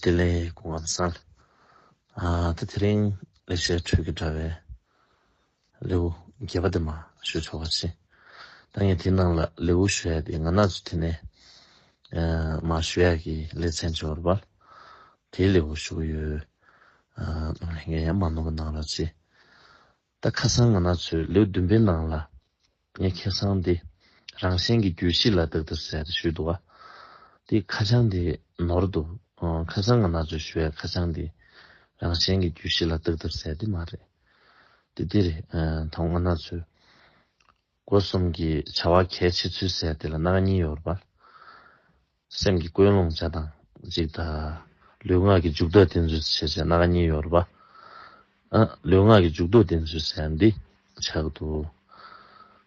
དེ་ལས་གོ་བ་གསལ། ད་དེ་རིང་ལེགས་བཤད་ཁྲོད་ཀྱི་དྲྭ་བའི་ལེའུ་བརྒྱད་པ་དེ་མ་ཤོད་ཆོག་པ་ཅི། ད་ངས་དེའི་ནང་ལ་ལེའུ་ཤོད་ཡ་དེ་ང་ན་ཚོ་དེ་ནས་མ་ཤོད་ཡ་གི་ལེ་ཚན་འབྱོར་བ་ལ་དེའི་ལེའུ་ཤོད་གི་ཡོད། ནོར་ལྷན་རྒྱས་ཡ་མ་ནོར་བ་གནང་རོགས་ཅི། ད་ཁ་སང་ང་ན་ཚོས་ལོས་བདུན་པའི་ནང་ལ་ངས་ཁེ་སང་དེ་རང་གཞན་གྱི་རྒྱུད་བཞི་ལ་དག་དག་ཟེར་ཞུས་འདུག་ཨ། དེ་ཁ་བྱང་དེ་ནོར་འདུག་ཁ་སང་ང་ན་ཚོས་ཞུ་བའི་ཁ་བྱང་དེ་རང་གཞན་གྱི་རྒྱུད་བཞི་ལ་དག་དག་ཟེར་དེ་མ་རེད། དེ་འདི་རེད་ད་ང་ན་ཚོས་སྒོ་གསུམ་གྱི་བྱ་བ་གལ་ཆེ་ཚུལ་ཟེར་དེ་ལ་གནག་ཉེན་ཡོད་རེད་པ། སེམས་ཀྱི་ཀུན་སློང་བྱ་དང་གཅིག་དག། ལུས་ངག་གི་འཇུག་ལྡོག་བསྟེན་ཚུལ་བྱེད་ཅེ་ན་གཉིས་ཡོད་པ། ལུས་ངག་གི་འཇུག་ལྡོག་བསྟེན་ཚུལ་བྱེད་ཡ་འདི་ཆགས་གི་འདུག།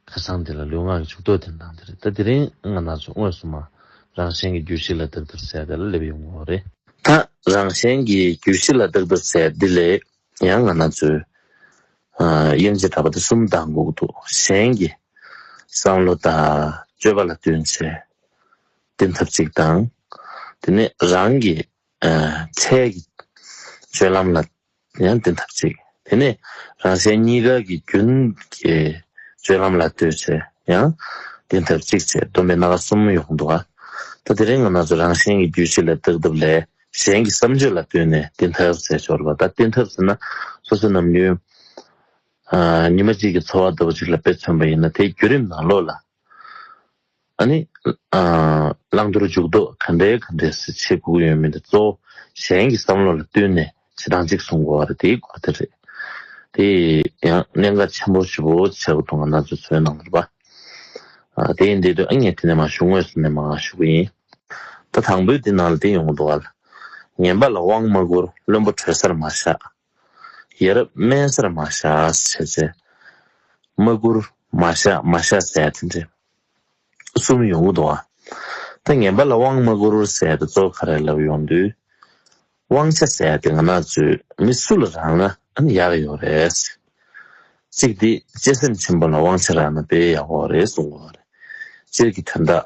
ཁ་སང་འདི་ལ་ལུས་ངག་གི་འཇུག་ལྡོག་བསྟེན་སྟངས་དེ་རེད་ད་དེ་རིང་ང་ན་ཚོ་དངོས་སུ་མ་རང་གཞན་གྱི་རྒྱུད་བཞི་ལ་བདག་བདར་ཟས་དེ་ལ་སླེབས་ཡོང་གི་འོ་རེད། ད་རང་གཞན་གྱི་རྒྱུད་བཞི་ལ་བདག་བདར་ཟས་འདི་ལས་ཡང་ང་ན་ཚོའི་དབྱེ་འབྱེད་འདྲ་པ་འདི་གསུམ་དང་འགུག་འདུག་གཞན་གྱི་བསམ་བློ་དང་སྤྱོད་པ་ལ་བསྟུན་ཚེ་བསྟེན་ཐབས་གཅིག་དང། དེ་ནས་རང་གི་འཕྲལ་གྱི་སྤྱོད་ལམ་ལ་ཡང་བསྟེན་ཐབས་གཅིག་དེ་ནས་རང་གཞན་གཉིས་ཀ་གི་རྒྱུན་གྱི་སྤྱོད་ལམ་ལ་ལྟོས་ཚེ་ཡང་བསྟེན་ཐབས་གཅིག་ཅེས་སྡོམ་པའི་སྣ་ཁ་གསུམ་ཡོང་འདུག་ད་དེ་རིང་ང་ན་ཚོས་རང་གཞན་གྱི་རྒྱུད་བྱེད་ལས་བརྟག་ཐབས་ལས། གཞན་གྱི་བསམ་སྤྱོད་ལ་ལྟོས་ནས་བསྟེན་ཐབས་ཟེར་ཆོག་ལ་ད་བསྟེན་ཐབས་ཟེར་ན་སོ་སོ་ནམ་རྒྱུན་ཉི་མ་གཅིག་གི་འཚོ་བ་ལྟ་བུ་ཞིག་ལ་དཔེ་མཚོན་པ་ཡིན་ན་དེའི་བརྒྱུད་རིམ་ནང་ལོགས་ལ་ནི་བླང་དོར་འཇུག་ལྡོག་ག་འདྲའི་ག་འདྲའི་ཟེར་བྱེད་སྒུག་ཡོད་མི་འདུག་གཙོ་བོ་གཞན་གྱི་བསམ་བློ་ལ་བསྟུན་ནས་བྱེད་སྟངས་གཅིག་བཟུང་དགོས་བ་རེད་དེའི་སྐོར་དེ་རེད། དེ་ཡང་གནད་འགག་ཆེན་པོ་བཞི་བོ་བྱ་དགོས་དོན་ག་ན་ཚོད་ཚོད་གནང་དགོས་པ་དེ་ཡིན་དེ་དུས་ཨ་མྱེས་དེ་ནས་མ་ཞུགས་དངོས་སུ་ནས་མ་ཞུགས་གི་ཡིན། ད་དང་པོའི་འདི་ནང་ལ་འདི་ཡོང་འདུག་ཨ། ངན་པ་ལ་དབང་མ་བསྐུར་བློན་པོ་གྲོས་སར་མ་བཞག། ཡ་རབས་སྨན་སར་མ་བཞག་བྱས་བྱས། མ་བསྐུར་མ་བཞག་མ་བཞག་ཟས་དེ་འདྲས། གསུམ་ཡོང་གི་འདུག་ཨ། ད་ངན་པ་ལ་དབང་མ་བསྐུར་བར་ཟས་དེ་གཙོ་ག་རེ་ལབ་ཡོང་དུས། དབང་ཆ་ཟས་དེ་ང་ནག་ཚོས་མི་སུ་ལ་རག་ན་ཨ་ཡག་ཡོག་རེད། གཅིག་འདི་གཅེས་སེམས་ཆེན་པོ་ལ་དབང་ཆ་རག་ན་དཔེ་ཡག་འོག་རེད་གསུང་གི་འོག་རེད། སྤྱིར་གྱི་དོན་དག་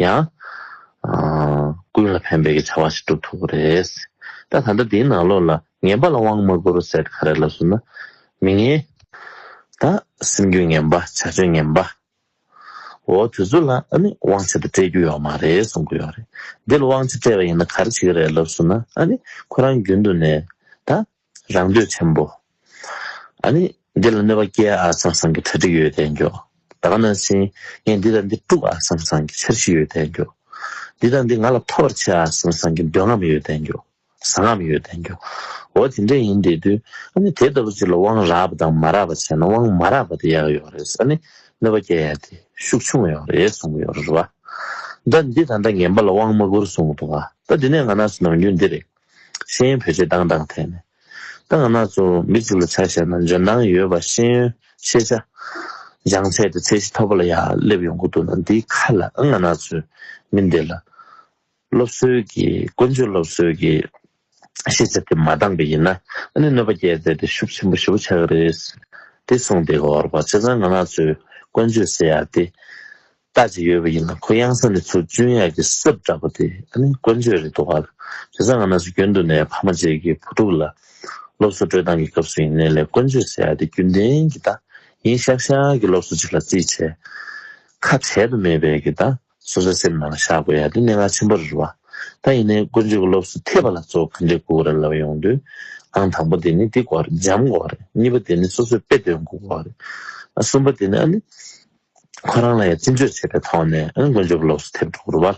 ཡང། ཀུན་ལ་ཕན་པའི་གི་བྱ་བ་ཞིག་བསྒྲུབ་ཐུབ་པ་རེད། ད་ད་ལྟ་འདིའི་ནང་ལོགས་ལ་ངན་པ་ལ་དབང་མ་བསྐུར་ཟེར་ག་རེ་ལབ་སོང་ན། མི་ངན། ད་སེམས་རྒྱུད་ངན་པ་བྱ་སྤྱོད་ངན་པ། འོ་དེ་ཚོ་ལ་ཨ་ནི་དབང་ཆེད་དུ་སྤྲད་རྒྱུ་ཡོག་མ་རེད་གསུང་གི་ཡོག་རེད། འདི་ལ་དབང་ཆེད་སྤྲད་པ་ཡིན་ན་ག་རེ་བྱེད་ཀྱི་རེད་ལབ་སོང་ན་ཨ་ནི་ཁོ་རང་རྒྱུན་དུ་ནས་ད། རང་འདོད་ཆེན་པོ། ཨ་ནི། འདི་ལ་གནོད་པ་སྐྱེ་ཨ་སང་སང་གི་གྲ་སྒྲིག་ཡོད་དད་འགྱོ། ད་ག་ན་སིན། ངས་འདི་དང་འདི་དཀྲུག་ཨ་སང་སང་གི་འཆར་གཞི་ཡོད་དད་འགྱོ། འདི་དང་འདི་ང་ལ་ཐོབ་པར་བྱེད་ཨ་སང་སང་གི་འདོད་རྔམ་ཡོད་དད་འགྱོ། བཟའ་རྔམ་ཡོད་དད་འགྱོ། འོ་དེ་འདྲས་ཡིན་དད་དུས། ཨ་ནི་དེ་ལྟ་བུ་ཅིག་ལ་དབང་རག་པ་དང་མ་རག་པ་བྱས་ན་དབང་མ་རག་པ་དེ་ཡག་ཡོད་རེད་ཨ་ནི། གནོད་པ་སྐྱེ་ཡ་དེ་ཤུགས་ཆུང་ཡོད་རེད་གསུང་གི་ཡོད་རེད་བ། ད་འདི་ད་ད་ངན་པ་ལ་དབང་མ་བསྐུར་གསུང་གི་འདུག་བ། ད་འདི་ནས་ང་ན་སུ་ནང་རྒྱུ་འདི་རེད། ཤེས་ཡོན་བེད་སྤྱོད་བཏང་སྟངས་ཐད་ནས། ཏང་སྣ་ཚོགས་མི་གཅིག་ལ་ཆ་བཞག་ན་འཇོན་ཐང་ཡོད་པ་ཤེས་ཡོན་ཤེས་བྱ་སྦྱངས་ཚད་དེ་ཚད་གཞི་མཐོ་པོ་ལ་ཡར་སླེབས་ཡོང་གི་འདུག་ན་འདིའི་ཁ་ལ་ཨང་སྣ་ཚོད་མི་འདེད་ལ། སློབ་གསོའི་གི་ཀུན་སྤྱོད་སློབ་གསོའི་གི་ཤེས་བྱ་དེ་མ་འདང་པ་ཡིན་ན་ཨ་ནི་གནོད་པ་སྐྱེལ་ཚད་དེ་ཤུགས་ཆེན་པོ་ཞི་བོ་ཆགས་ཀྱི་རེད། དེ་གསུངས་དེ་གོར་བ་ཆེ་ཚང་ང་སྣ་ཚོས་ཀུན་སྤྱོད་ཟེར་ཡག་དེ། ལྟ་ཅི་ཡོད་པ་ཡིན་ན་ཁོ་གཡང་ས་ནས་ཚུར་བཅུན་ཡག་གི་སྲབ་བསྒྲགས་པ་དེ་ཨ་ནི་དཀོན་ཅོས་རེད་འདུག་ག་དེ་སང་ང་ན་སུ་རྒྱུན་དུ་ནས་ཕ་མ་བཅས་ཀྱི་བུ་ཕྲུག་ལ་སློབ་གསོ་སྤྲོད་སྟངས་ཀྱི་སྐབས་སུ་ཡིན་ནའི་ལས་དཀོན་ཅོས་ཟེར་ཡག་དེ་རྒྱུན་ལྡན་གྱི་ད་ཡིན་ཤག་ཤག་གི་སློབ་གསོ་ཅིག་ལ་རྩིས་བྱས་ཁ་བྲལ་དུ་མེད་པའི་གི་ད་སོ་སོའི་སེམས་ནང་ལ་བཞག་དགོས་ཡག་དེ་གནད་འགག་ཆེན་པོ་རེད་བ་ད་ཡིན་ནའི་དཀོན་ཅོས་ཀྱི་སློབ་གསོ་ཐེབས་པ་ལ་གཙོ་བོ་ག་འདྲའི་དགོས་རེད་ལབ་ཡོང་དུས་ཨང་དང་པོ་དེ་ནི་འདི་དགོས་རེད་འཇམ་དགོས་རེད་གཉིས་པ་དེ་ནི་སོ་སོས་དཔེ་སྟོན་དགོས་རེད་གསུམ་པ་དེ་ནི་ཨ་ནི། ཁོ་རང་ལ་ཡང་རྩིས་འཇོག་བྱས་པའི་ཐོག་ནས་དཀོན་མཆོག་གི་ལོགས་སུ་ཐེབས་འགྲོ་བར།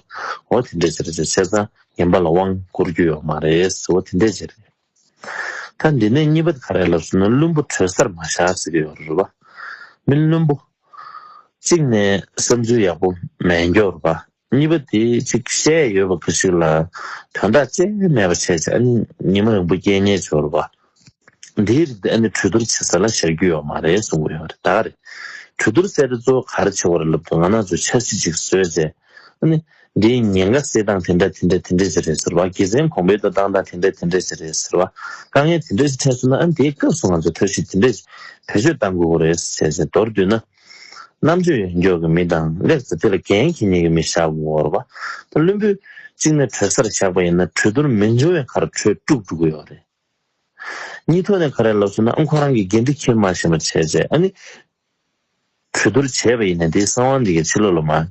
འོ་དེ་འདྲའི་ཆེད་དུ་ཆེ་ས་ངན་པ་ལ་དབང་བསྐུར་རྒྱུ་ཡོད་མ་རེད། འོ་དེ་འདྲའི་ཆེད་རེད། ད་འདི་ནས་གཉིས་པ་ག་རེ་ལབ་ཟེར་ན་བླུན་པོ་གྲོས་སར་མ་བཞག་ཟེར་གྱི་ཡོད་རེད་པ། མི་བླུན་པོ། གཅིག་ནས་བསམ་ཚུལ་ཡག་པོ་མེད་མགྱོགས་རེད་པ། གཉིས་པ་དེ་གཅིག་བཤད་ཡོད་པ་གང་ཞིག་ལ་དོན་དག་ཅི་ཡང་མེད་པར་བྱས་ཀྱང་ཉི་མ་རིང་པོ་སྐྱེལ་ཉེས་འབྱོར་བ་འདིའི་རིགས་འདི་གྲོས་བསྡུར་བྱེད་ས་ལ་ཤར་རྒྱུ་ཡོད་མ་རེད་གསུང་གི་ཡོད་ད་རེད། གྲོས་བསྡུར་སེ་རེ་གཙོ་ག་རེ་བྱེད་བར་ལབ་དུ་ང་ནག་ཚོས་འཆར་གཞི་གཅིག་བཟོས་རྗེས། འདིའི་ཉེན་ཁ་སེལ་སྟངས་དེ་འདྲ་དེ་འདྲ་དེ་འདྲ་ཞིག་རེད་ཟེར་བ་དགེ་མཚན་གོང་འཕེལ་དུ་བཏང་སྟངས་དེ་འདྲ་དེ་འདྲ་ཞིག་རེད་ཟེར་བ་དཀའ་ངལ་དེ་འདྲ་ཞིག་འཕྲད་སོང་ན་དེའི་སྐབས་སུ་ང་ཚོས་འཐབ་ཞུ་དེ་འདྲ་ཞིག་བེད་སྤྱོད་བཏང་དགོས་ཀྱི་རེད་ཟེར་བྱས་རྗེས་མདོར་བསྡུས་ན། རྣམ་དཔྱོད་ཡོད་མགྱོགས་ཀྱི་མི་དང་ལེགས་སོ་དེ་ལ་རྒན་གྱི་ཉེ་གི་མི་བཞག་དགོར་བ། ད་བླུན་པོའི་གཅིག་ནས་གྲོལ་སར་བཞག་པ་ཡིན་ན་གྲོལ་རྡོར་མི་འབྱུང་བའི་ཁར་གྲོལ་དཀྲུག་དཀྲུག་གི་ཡོག་རེད། གཉིས་ཐོག་ནས་ག་རེ་ལབ་སོང་ན་ཨ་ཁོ་རང་གི་དགེ་འདི་ཁྱེར་མ་བྱས་མ་བྱས་བྱས་ཨ་ནི། གྲོལ་རྡོར་བྱས་པ་ཡིན་ན་དེའི་གསང་བ་འདི་གའི་ཕྱི་ལོག་ལ་མ།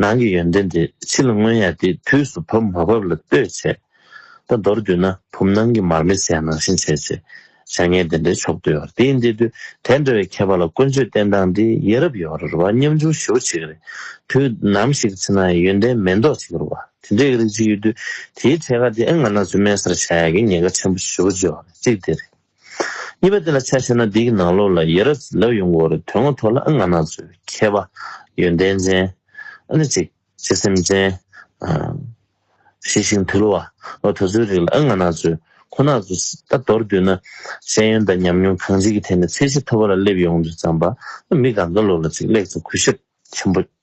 ནང་གི་ཡོན་ཏན་དེ་ཕྱི་ལ་མངོན་ཡང་དེ་དུས་སུ་བབས་མ་བབས་ལ་ལྟོས་བྱས་ད་མདོར་བསྡུ་ན་བུམ་ནང་གི་མར་མེ་ཟད་ནང་བཞིན་བྱས་བྱས་བྱ་ངན་དེ་འདྲའི་མཆོག་བསྡུ་བར་དེ་ཡིན་དེ་དུས་དེ་འདྲ་བའི་མཁས་པ་ལ་དཀོན་མཆོད་བསྟེན་སྟངས་འདི་ཡེ་རབ་ཡོ་རར་བ་ཉམ་ཆུང་ཞུ་བ་བྱེད་ཀྱི་རེད་དུས་ནམ་ཞིག་ཕྱི་ནང་ཡོན་ཏན་མེད་མདོག་བྱེད་ཀྱི་རུ་བ་དེ་འདྲའི་རིགས་ཅིག་ཡོད་དུས་དེའི་ཐད་ཀ་དེ་ཨེ་ང་ན་ཚོད་སྨན་སར་བཞག་ཡ་གི་ཉེས་ཁ་ཆེན་པོ་ཞུ་བ་བརྗོད་བ་ཅིག་དེ་རེད། གཉིས་པ་དེ་ལ་ཆ་ཤས་ན་འདིའི་ནང་ལོགས་ལ་ཡེས་ར་ལབ་ཡོང་གི་འོ་རེད་དོན་ངོ་ཐོག་ལ་ཨ་ང་ནག་ཚོས་མཁས་པ། ཡོན་ཏན་ཅན། ཨ་ནི་ཅིག། སྤྱི་སེམས་ཅན། ཤེས་ཤིང་དུལ་བ། འོ་ད་ཚོའི་རིགས་ལ་ཨ་ང་ནག་ཚོས་ཁོ་ནག་ཚོ་ད་མདོར་བསྡུས་ན། ཤེས་ཡོན་དང་ཉམས་མྱོང་གང་ཅིའི་ཐད་ནས་ཚད་གཞི་མཐོ་བ་ལ་སླེབས་ཡོང་དུས་ཙམ་པ། མི་ག་འགའ་ལོགས་ལ་ཅིག་གླེགས་ཚ་གུས་ཞབས་ཆེན་པོ།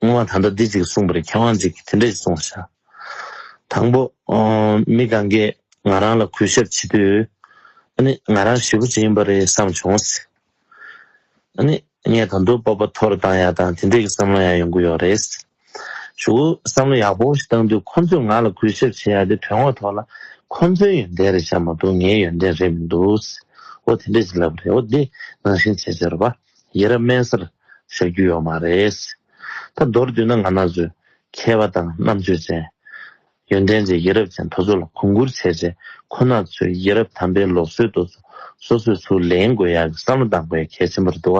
སྔོན་མ་ད་ལྟ་འདི་གཅིག་གསུངས་པར་མཁས་དབང་གཅིག་གིས་དེ་འདྲ་ཞིག་གསུང་བ་ཤར། དང་པོ། མི་གང་གིས་ང་རང་ལ་གུས་ཞབས་བྱེད་དུས། ཨ་ནི་ང་རང་ཞི་བུ་ཅིག་ཡིན་པ་རེད་བསམ་བྱུང། ཨ་ནི་ངས་ད་དུང་སྤོབས་པ་ཐོར་བཏང་ཡག་དང་དེ་འདྲས་ཀྱི་བསམ་བློ་ཡང་ཡོང་གི་ཡོད་རེད། ཞུ་གུ་བསམ་བློ་ཡག་པོ་ཞིག་བཏང་དུས་ཁོ་ཚོས་ང་ལ་གུས་ཞབས་བྱེད་ཡག་དེ་དོན་དངོས་ཐོག་ལ་ཁོ་ཚོའི་ཡོན་ཏན་རེད་བྱ་མ་འདུག་ངའི་ཡོན་ཏན་རེད་མི་འདུག། འོ་དེ་འདྲས་ཞིག་ལབ་རེད་འོ་འདི་ནང་བཞིན་བྱེད་ཅེས་རོ་པཱ། ཡིད་རབ་དམན་སར་བཞག་རྒྱུ་ཡོད་མ་རེད། ད་མདོར་བསྡུས་ན་ང་ན་ཟོས་མཁས་པ་དང་རྣམ་དཔྱོད་ཅན། ཡོན་ཏན་ཅན་ཡིད་རབ་ཅན་དོ་ཚོ་ལ་གོང་བཀུར་བྱས་བྱས་ཁོ་ན་ཚོས་ཡིད་རབ་དམ་པའི་ལོག་སྲོལ་དོ་ཚོ་སོ་སོས་ཚུར་ལེན་དགོས་ཡག་གི་བསམ་བློ་གཏང་དགོས་ཡག་གལ་ཆེན་པོར་འདུག་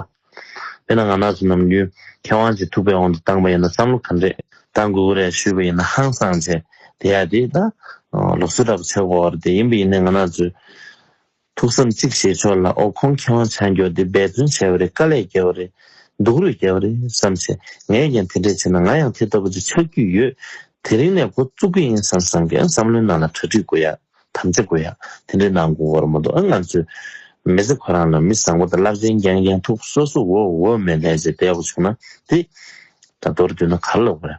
དཔེར་ན་ང་ན་ཚོ་ནམ་རྒྱུན་མཁས་དབང་གཅིག་ཐུག་པའི་འོག་ཏུ་བཏང་པ་ཡིན་ན་བསམ་བློ་ག་འདྲས་གཏང་དགོས་ཀི་རེད་ཞུས་པ་ཡིན་ན་ཧང་སང་བྱས་དེ་ཡག་དེ་ད་ལོག་སྲོལ་འདྲ་པོ་ཆགས་པ་འོག་རེད་དེ་ཡིན་པ་ཡིན་ན་ང་ན་ཚོས་ཐུགས་བསམ་གཅིག་བཞེས་ཆོག་ལ་ཨོ་ཁོང་ཁེ་དབང་ཆ་འགྱོག་འདི་འབད་བརྩོན་བྱས་པ་རེད་དཀའ་ལས་བརྒྱལ་བ་རེད་སྡུག་རུས་བརྒྱལ་བ་རེད་བསམ་བྱས་ངས་ཀྱང་དེ་འདྲས་བྱས་ན་ང་ཡང་དེ་ལྟ་བུ་ཅིག་ཆགས་རྒྱུས་ཡོད་དེ་རིང་ནས་འགོ་བཙུགས་ཀི་ཡིན་བསམ་བསམ་གི་ཨ་བསམ་བློའི་ནང་ལ་གྲ་སྒྲིག་དགོས་ཡ་དམ་བཅའ་དགོས་ཡ་དེ་འདྲས་གནང་དགོས་འོར་མ་འདུག་ཨ་ང་ཚོའི་མི་ཚེ་ཁོ་རང་ལ་མི་བཟང་པོ་དང་རླབས་ཆེན་རྒྱན་རྒྱན་ཐུགས་པོ་སོ་སོ་འོ་འོ་མས་ལྷས་བྱས་བསྡད་པོ་བྱུང་ན་དེ་འདྲ་མདོར་བསྡུས་ན་ག་ལ་འོས།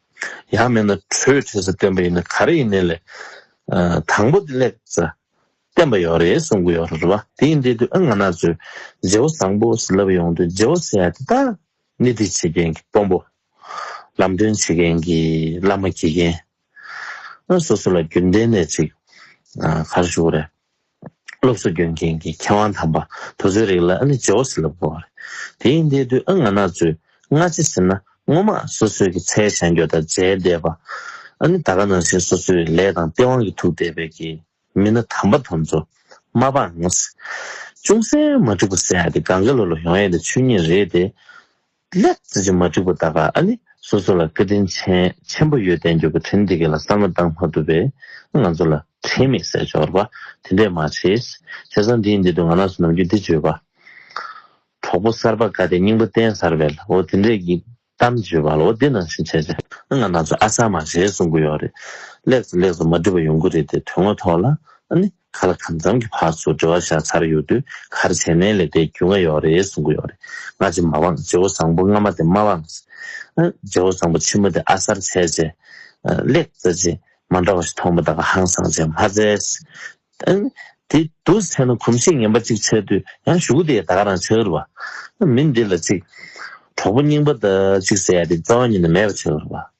ཡང་མེད་ན་གྲོས་བྱས་ས་བཏོན་པ་ཡིན་ན་ག་རེ་ཡིན་ནས་ལས་དང་པོ་དེ་ལེགས་ས་བསྟན་པ་ཡོད་རེད་གསུང་གི་ཡོད་རེད་བ་དེ་ཡིན་དེ་དུས་ཨ་ང་ན་ཚོས་རྗེ་བོ་བཟང་པོ་ཟེར་ལབ་ཡོང་དུས་རྗེ་བོ་ཟེར་ཡ་དེ་དག་ནི་འདི་བྱེད་མཁན་གྱི་དཔོན་པོ། ལམ་སྟོན་བྱེད་མཁན་གྱི་བླ་མ་དགེ་རྒན། སོ་སོ་ལ་རྒྱུན་ལྡན་ནས་ཅིག་ག་རེ་ཞུ་གི་རེད། སློབ་གསོ་སྐྱོན་མཁན་གྱི་མཁས་དབང་དམ་པ་དོ་ཚོའི་རིགས་ལ་ཨ་ནི་ཇོ་བོ་སེ་ལབ་དགོས་པ་རེད། དེ་ཡིན་དེ་དུས་ཨ་ང་ནག་ཚོས་སྔ་ཕྱི་ཟེར་ན་ངོ་མ་སོ་སོའི་གི་ཚའི་བྱ་འགྱོ་དང་འཇལ་བསྡད་པ། ཨ་ནི་ད་ག་ནང་བཞིན་སོ་སོའི་ལས་དང་སྟེས་དབང་གི་ཐུག་བསྡད་པའི་གི་མི་སྣ་དམ་པ་དོམ་ཚོ། མ་སྤངས། ཅུང་ཟད་མ་འགྲིག་པ་བསལ་ཡ་དེ་གངྒཱའི་ལོ་ལོ་ཡོང་ཡ་དེ་ཆོས་ཉིད་རེད་དེ། ལེགས། བརྩེ་ཆེན་མ་དྲིས་པོ་ད་ག་ཨ་ནི་སོ་སོ་ལ་བཀའ་དྲིན་ཆེན་ཆེན་པོ་ཡོད་བསྟན་འགྱུར་བ་དྲིན་འདི་ག་ལ་གསར་མ་བཏང་མ་ཐུབ་པས་ང་ཚོ་ལ་དྲིན་མེད་ཟེར་སྦྱོར་བ་དེ་འདྲས་མ་བྱེད། བྱས་ཙང་འདིའི་འདི་དུ་ང་ནགས་སུ་ནམ་རྒྱུན་འདི་བརྗོད་པ། གྲོགས་པོ་གསར་པ་དགའ་བདེ་སྙིང་པོ་བསྟན་གསར་བས་ལ་འོ་དེ་འདྲས་ཀྱི་གཏམ་བརྗོད་པ་ལ་འོ་དེ་ནང་བཞིན་བྱས་བྱས། ང་ནགས་སུ་ཨ་གསར་མ་བྱས་གསུང་གི་ཡོད་རེད། ལེགས་སོ་ལེགས་སོ་མ་དྲིས་པོ་ཡོང་གི་རེད་དེ་དོན་ངོ་ཐོག་ལ་ཨ་ནི་ཁ་ལ་དམ་གཙང་གི་བར་སུ་འབྲེལ་བ་བཞག་ཚར་ཡོད་དུས་གར་བྱས་ནའི་ལས་དེ་རྒྱུས་མངའ་ཡོད་རེད་གསུང་གི་ཡོད་རེད་སྔ་རྗེས་མ་དབང་རྗེ་བོ་བཟང་པོ་སྔ་མ་དེ་མ་དབང། རྗེ་བོ་བཟང་པོ་ཕྱི་མོ་དེ་ཨ་གསར་བྱས་རྗེས། ལེགས་བཙལ་རྗེས་མ་འདྲ་བ་ཞིག་མཐོང་མ་ཐག་ཧང་སངས་རྗེས་མ་བཙལ། དེ་དུ་བྱས་ན་གོམས་གཤིས་ངན་པ་གཅིག་བྱས་དུས་ཡང་གཞུག་གི་དེ་ད་ག་རང་བྱ་གི་རེད་བ། མི་འདི་ལ་གཅིག། གྲོགས་པོ་རྙིང་པ་ད་གཅིག་ཟེར་ཡ་དེ་རྩ་བ་ཉིད་ནས་མེད་པ་བྱ་གི་རེད་བ།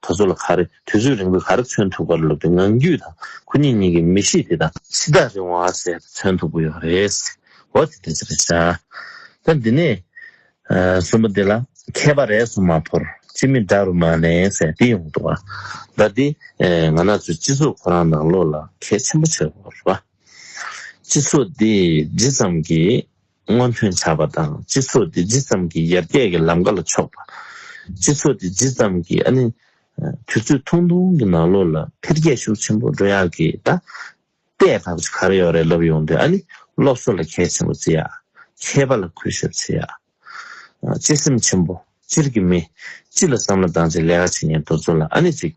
ད་གཟོད་ལ་ག་རེ་དུས་ཚོད་རིང་པོས་ག་རེ་མཚོན་ཐུབ་ཀ་རེ་ལབ་དེ་ངང་རྒྱུད་དང་ཁོ་གཉིས་གཉིས་ཀྱི་མི་གཤིས་དེ་དང། ཕྱི་ཐག་རིང་བ་ཟས་དང་མཚོན་ཐུབ་ཀི་ཡོད་རེད། འོ་དེ་དེ་ཚོ་རེད་བྱ། ད་འདི་ནས། གསོན་པོ་འདི་ལ་མཁས་པ་རེ་ཟུང་མ་ཕོར་སྤྱི་མི་འདྲ་རུ་མ་ནས་ཟས་འདི་ཡོང་འདུག་ཨ། ཟླ་འདི། ང་ནག་ཚོས་སྤྱི་ཚོགས་ཁོ་རང་ནང་ལོགས་ལ་གལ་ཆེན་པོ་བྱེད་དགོས་པ་རེད་བ། སྤྱི་ཚོགས་འདི་ཇི་ཙམ་གྱིས་སྔོན་ཐོན་བྱ་བ་དང་སྤྱི་ཚོགས་དེ་ཇི་ཙམ་གྱིས་ཡར་རྒྱས་ཀྱི་ལམ་ཀ་ལ་ཕྱོགས་པ། སྤྱི་ཚོགས་དེ་ཇི་ཙམ་གྱིས་ནི་དུས་ཚོད་ཐུང་ཐུང་གི་ནང་ལོགས་ལ་འཕེལ་རྒྱས་ཤུགས་ཆེན་པོ་འགྲོ་ཡག་གི་ད་ལྟའི་བར་གྱི་གར་ཡོད་རེད་ལབ་ཡོང་དུས་ནི་སློབ་གསོ་ལ་གལ་ཆེན་པོ་བརྩི་ཡག་མཁས་པ་ལ་གུས་ཞབས་བྱེད་ཡག་གཅེས་སེམས་ཆེན་པོ་སྤྱིར་གྱི་མི་སྤྱི་ལ་བསམ་བློ་བཏང་ཚེ་ལས་ཀ་བྱེད་མཁན་དུ་ཚོ་ལ་ནི་ཅིག།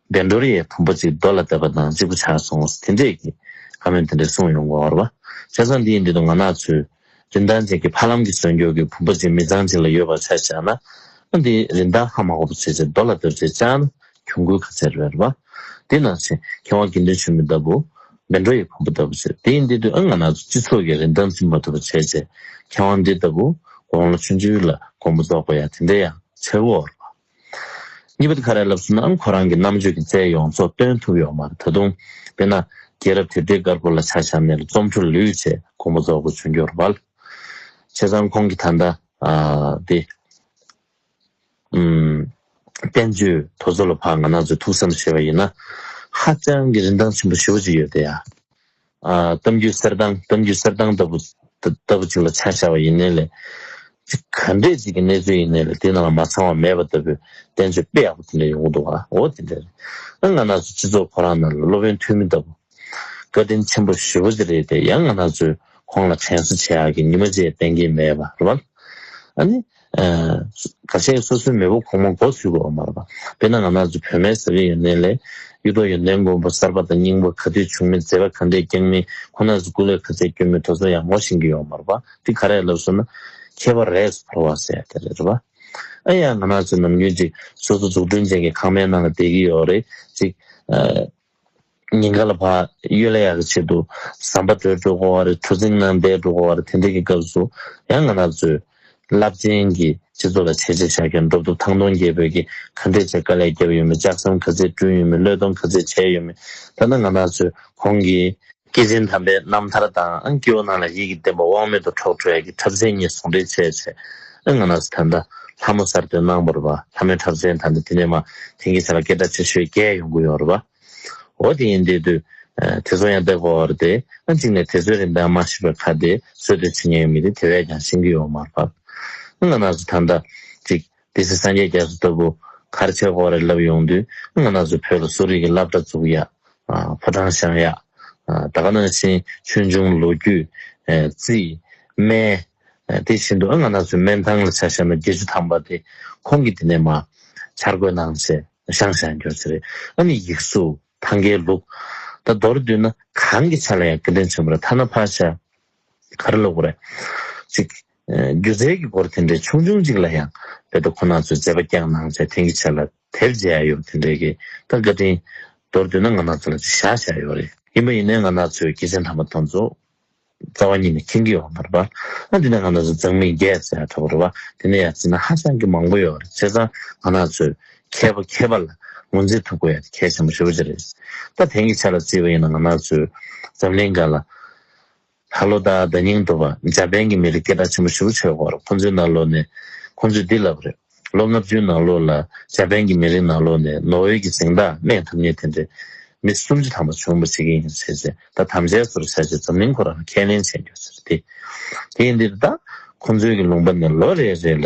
བདེ་འགྲོར་ཡས་བུམ་པ་གཅིག་རྡོ་ལ་གཏད་པ་དང་གཅིག་པུ་ཆར་སོང་ངོ་ཟེར་དེ་འདྲས་ཀྱིས་ཁ་མོས་དེ་འདྲས་གསུངས་ཡོང་གོ་བར་བ། བྱས་ཙང་འདིའི་འདི་དུ་ང་ནག་ཚོས། རིན་ཐང་ཅན་གྱི་ཕ་ལམ་གྱི་ཟོལ་འགྱུར་གྱི་བུམ་པ་གཅིག་མི་ཚང་གཅིག་ལ་ཡོད་པར་ཆ་བཞག་ན། ཨ་འདི་རིན་ཐང་ཧ་མ་གོ་བ་བྱས་ཚེ་རྡོ་ལ་གཏོད་ཚེ་ཅང་ན་གྱོང་གུད་ག་ཚད་རེད་བར་བ། འདི་ནག་ཚེ་མཁས་དབང་དགེ་འདུན་ཆོས་མེད་ལྟ་བུ། བདེ་འགྲོ་ཡས་བུམ་པ་ལྟ་བུ་བྱས་དེའི་འདི་དུས་ཨ་ང་ནག་ཚོས་སྤྱི་ཚོགས་ཀྱི་རིན་ཐང་འཛིན་མ་ཐུབ་པ་བྱས་ཚེ། མཁས་དབང་འདི་ལྟ་བུ། དགོང་ལ་ཆུ་འཛུལ་ལ་དགོང་མོ་རྫོགས་པ་ཡང་དེ་འདྲས་ཡང་ཚད་བོར་བར་བ། གཉིས་པ། ཁ་རལ་ལབ་སུ་ནའང་ཁོ་རང་གི་རྣམ་དཔྱོད་ཀྱི་རྩལ་ཡོངས་རྫོགས་སྟོན་ཐུབ་ཡོད་མ་རེད་ད་དུང། དཔེར་ན། རྒྱལ་རབས་དེབ་སྡེའི་སྐར་ཁུང་ལ་ཆ་བྱམས་ནས་ལ་རྩོམ་འཕྲོ་ལུས་ཆེད་དགོངས་པ་རྫོགས་དགོས་བྱུང་རྒྱུ་རེད། བྱས་ཙང་ཁོང་གི་ད་ལྟ། འདི། བསྟན་བཅོས་དོ་ཚོ་ལ་བག་ང་ན་ཚོའི་ཐུགས་བསམ་ཞེས་པ་ཡིན་ན། ཧ་ཅང་གི་རིན་ཐང་ཆེན་པོ་ཞུ་བ་ཅིག་ཡོད་དེ་ཡ། གཏམ་རྒྱུད་གསེར་ཐང་གཏམ་རྒྱུད་གསེར་ཐང་ལྟ་བུ་ལྟ་བུ་ཅིག་ལ་ཆ་བཞག་པ་ཡིན་ནའི་ལས། ག་འདྲས་ཅིག་གི་གནས་ཚུལ་ཡིན་ནའི་ལས་དེ་ནང་ལ་མ་ཚང་བ་མེད་པ་ལྟ་བུའི་བསྟན་བཅོས་དཔེ་ཡག་པོ་དེ་འདྲ་ཡོང་གི་འདུག་ཨ་འོ་དེ་འདྲ་རེད། ང་ནག་ཚོ་སྤྱི་ཚོགས་ཁོ་རང་ནང་ལ་སློབ་དཔོན་ཐོན་མི་ལྟ་བུ། བཀའ་དྲིན་ཆེན་པོ་ཞུ་བ་ཅིག་རེད་དེ་ཡང་ང་ནག་ཚོས་ཁོང་ལ་དྲན་གསོ་བྱེད་ཡག་གི་ཉི་མ་བཅས་བསྟན་གྱིན་མེད་པ་རེད། ད་ཆ་སོ་སོའི་མེས་པོ་གོང་མ་འགོ་ཚུགས་པའོ་མ་རེད་པ། དཔེར་ན་ང་ནག་ཆུ་བོད་མའི་ས་ཁུལ་ཡོན་ཏན་ལས། གཡུ་ཐོག་ཡོན་ཏན་མགོན་པོ་གསར་པ་དང་རྙིང་པ་ག་དུས་བྱུང་མིན་མཛད་པ་ག་འདྲས་བསྐྱངས་མིན་ཁོ་ནར་སྐུ་ལས་ཁ་ཚད་སྐྱོན་མེད་དོ་ཚོ་ཡང་ངོ་ཤེས་ཀྱི་ཡོད་མ་རེད་པ། འདི་ག་རེད་ལབ་སོང་ན། ཁྱད་པར་རས་སུ་བོར་བ་ཟེར་ཡ་དེ་རེད་པ། ཨ་ཡ་ང་ནག་ཆུ་ནམ་རྒྱུན་ཅིག་སོ་སོ་འཛུགས་སྐྲུན་ཅན་གྱི་ཁང་མའི་ནང་ལ་བསྡད་ཀྱི་ཡོད་རེད་ཅིག། ཉིན་འགའ་ལ་བག་ཡོད་ལ་ཡག་གི་ཆེད་དུ་ཟམ་པ་དྲོའི་སྒྲོ་གོ་བར་གྲུ་གཟིངས་ནང་པའི་སྒྲོ་གོ་བར་དེ་འདྲ་གི་སྐབས་སུ་ཡང་ང་ནག་ཚོས། རླབས་ཆེན་གྱི་སྤྱི་ཚོགས་ལ་བྱས་རྗེས་བཞག་མཁན་འགྲོ་འདུག་ཐང་སྟོང་རྒྱལ་བོད་ཀྱི་ག་འདྲས་བྱས་དཀའ་ལས་བརྒྱབ་ཡོད་མེད་ལྕགས་ཟམ་ག་ཚད་བསྐྲུན་ཡོད་མེད་བློས་གཏོང་ག་ཚད་བྱས་ཡོད་མེད་ལྟ་ན་ང་ནག་ཚོས་གོང་གི་སྐྱེས་ཆེན་དམ་པའི་རྣམ་ཐར་དང་སྐྱེ་བོ་རྣམས་ལ་ཡིད་ཀྱི་བརྟན་པ་དབང་མེད་དུ་འཕྲོག་འཕྲོ་ཡ་གི་འཁྲབ་ཚན་གཉིས་ཟུང་འབྲེལ་བྱས་ཚེ་ཨི་ང་ནགས་སུ་ཐོན་ད། ལྷ་མོ་གསར་ཐོན་སྣང་བར་བ། ལྷ་མོའི་འཁྲབ་ཚན་དང་འདི་དེ་ནས་མ། དེང་གི་ཆ་ལ་སྐད་སྒྲ་ཆེ་ཤོས་བརྒྱད་ཡོང་གི་ཡོད་རེད་བ། འོ་དེ་ཡིན་དེ་དུས། དེ་ཚོ་ཡང་བརྡེག་པ་བར་དེ། གཅིག་ནས་དེ་ཚོའི་རིན་ཐང་མ་ཤེས་པའི་ཁར་དེ་ཚོས་དོན་བྱེད་མཁན་ཡོད་མི་དེ་དེ་བས་ཀྱང་ཤེས་ཀྱི་ཡོད་མ་རེད་བ། ཨི་ང་ནགས་སུ་ཐོན་ད། གཅིག། དེ་སྲིད་སངས་རྒྱས་རྒྱ་མཚོ་ལྟ་བུ། གར་མཆོད་བོགས་རེ་བརླབས་ཡོང་དུས། སྔ་ན་སུ་ཕོད་ལ་གསོ་རིག་གི་བླ་བྲ་འཛུགས་ཡག། ཕོ་བྲང་བཞེངས་ཡག། ད་ག་ནང་བཞིན་ཆོས་འབྱུང་ལོ་རྒྱུས། རྩིས། སྨན། དེ་བཞིན་དུ་སྔ་ན་སུའི་སྨན་ཐང་ལ་ཆ་བཞག་ན་དགེ་བཅུ་ཐང་པ་དེ། ཁོང་གིས་འདི་ནས་མ། འཆར་འགོད་གནང་ཞེས་བཤང་བཤང་གྱོར་གྱི་རེད། ཨ་ནི་ཡིག་གཟུགས། ཐང་གའི་ལུགས། ད་མདོར་བསྡུས་ན་གང་གི་ཆ་ལ་ཡང་དགེ་འདུན་ཆེན་པོ་ར་ཐ་ན་ཕ་ཤ། ག་རེ་ལོག་པ་རེད། ཅིག། སྒྱུ་རྩལ་གྱི་སྐོར་དེ་འདྲའི་ཆུང་ཆུང་ཅིག་ལ་ཡང་བོད་པ་ཁོ་ན་ཚོས་མཛད་པ་རྒྱག་གནང་བྱས་དེང་གི་ཆར་ལ་དེབ་མཇལ་ཡ་ཡོད་པ་དེ་འདྲའི་གི་ད་བཀའ་དྲིན། མདོར་བསྡུས་ན་ང་ནག་ཚོ་ལ་ཅིག་བཞག་བཞག་ཡོད་རེད། ཡིན་པ་ཡིན་ནའི་ང་ནག་ཚོས་སྐྱེས་ཆེན་དམ་པ་དང་ཚོ་རྩ་བ་ཉིད་ནས་མཁྱེན་གྱི་ཡོད་མར་པར། ཨ་འདི་ནས་ང་ནག་ཚོས་མཛངས་མི་རྒྱས་ཟེར་ཡ་ད་པོ་རེད་བ་དེ་ནས་ཡ་ཟེར་ན་ཧ་ཅང་གི་མང་པོ་ཡོད་རེད་བྱས་ཙང་ང་ནག་ཚོས་མཁས་པ་མཁས་པ་ལ་ངོས་འཛིན་ཐུབ་དགོས་ཡ་དེ་གལ་ཆེན་པོ་ཧྲིལ་པོ་ཅིག་རེད། ད་དེང་གི་ཆར་ལ་བརྩིས་པ་ཡིན་ན་ང་ནག་ཚོས་འཛམ་གླིང་འགའ་ལ། ལྷ་ལོ་དང་བརྡ་རྙིང་འགྲོ་བ་འཇར་པན་གྱི་མི་རིགས་སྐད་གྲགས་ཆེན་པོ་ཞིག་ལ་བྱོལ་སྐོར་ཁོང་ཚོའི་ནང་ལོགས་ནས་ཁོང་ཚོས་འདི་ལབ་པ་རེད། ལོ་ལྔ་བཅུའི་ནང་ལོགས་ལ་འཇར་པན་གྱི་མི་རིགས་ནང་ལོགས་ནས་ནོ་ཝེ་གྱི་གཟེངས་རྟགས་སྨད་ཐུབ་ངེས་དེ་འདྲའི་མི་སུམ་ཅུ་ཐམ་པ་བྱུང་འབུ་བྱེད་ཀྱི་ཡིན་ཟེར་རྗེས་ད་དམ་བཅའི་ཚོར་བྱ་ཆེད་འཛམ་གླིང་ཁོ་རང་ལ་ཁས་ལེན་བྱས་མྱོང་ཟེར། དེ་ཡིན་དེ་རེད་ད། ཁོང་ཚོའི་གི་ལུང་པ་ནས་ལོ་རེ་རེ་ལ།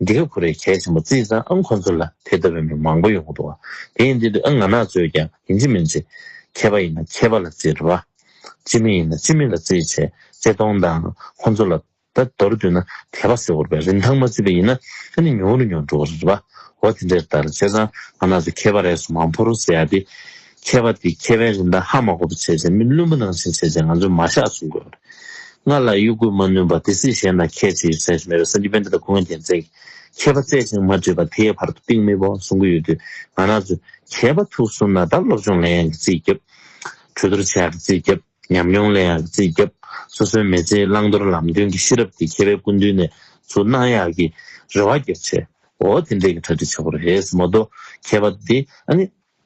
འདི་ག་ཁུ་རེ་གལ་ཆེན་པོ་བརྩིས་ཙང་ཨང་ཁོ་ཚོ་ལ་དེ་ལྟ་བུའི་མི་མང་པོ་ཡོང་གི་འདུག་དེ་ཡིན་དུས་དུས་ཨང་ང་ནག་བཙོས་ཀྱང་ཡིན་ཅི་མིན་ཅི། མཁས་པ་ཡིན་ན་མཁས་པ་ལ་བརྩི་རེ་བ། སྤྱི་མི་ཡིན་ན་སྤྱི་མི་ལ་བརྩི་བྱས་བརྩེ་གཏོང་དང་ཁོ་ཚོ་ལ་ད་མདོར་བསྡུས་ན་དད་པ་ཟེར་བོར་བའི་རིན་ཐང་མ་བརྩི་བ་ཡིན་ན་ད་ནི་ཉུང་རུ་ཉོ་འགྲོ་གི་རེད་པ་འོ་དེ་འདྲའི་ལྟར་བྱས་ཙང་ང་ནག་བཙོས་མཁས་པ་རེ་ཟུང་མང་པོ་རུ་ཟེར་ཡག་དེ། མཁས་པ་དེས་ཁྱད་པའི་རིན་ཐང་ཧ་མ་གོ་བའི་ཚད་ཟེར་མིན་བླུན་པོ་ནང་བཞིན་བྱས་ཚེ་ང་ཚོས་མ་བཞག་གསུང་དགོས་པ་རེད། སྔར་ལ་གཡོ་འགུལ་མ་ནུས་པ་དེ་སྲིད་གཞན་དང་ཁྱད་ཆེ་ཞིག་བྱ་ཞིག་མེད་པའི་སེམས་ཀྱི་དཔེ་འདི་དང་གུ་ངོས་རྒྱལ་མཚན་གྱིས་མཁས་པ་བརྩད་ཅིང་མ་དྲིས་པ་དེའི་བར་དུ་གཏིང་མི་དཔོག་གསུང་གི་ཡོད་དུས་ང་ནག་ཚོས་མཁས་པ་ཐུགས་གསུམ་ན་དར་སློབ་སྦྱོང་ལན་ཡང་གི་རྩིས་རྒྱབ། གྲོས་བསྡུར་བྱས་ཡང་གི་རྩིས་རྒྱབ་ཉམས་མྱོང་ལེན་ཡང་གི་རྩིས་རྒྱབ་སོ་སོའི་མི་ཚེའི་བླང་དོར་ལམ་སྟོན་གྱི་ཤེས་རབ་དེ་མཁས་པའི་སྐུ་མདུན་ནས་ཚུར་གནང་ཡང་གི་རེ་བ་རྒྱབ་བྱས་འོ་དེ་འདྲས་གི་གྲ་སྒྲིག་བྱ་དགོས་རེད་ཟེར་མོ་གཏོགས་མཁས་པ་དེ་ཨ་ནི།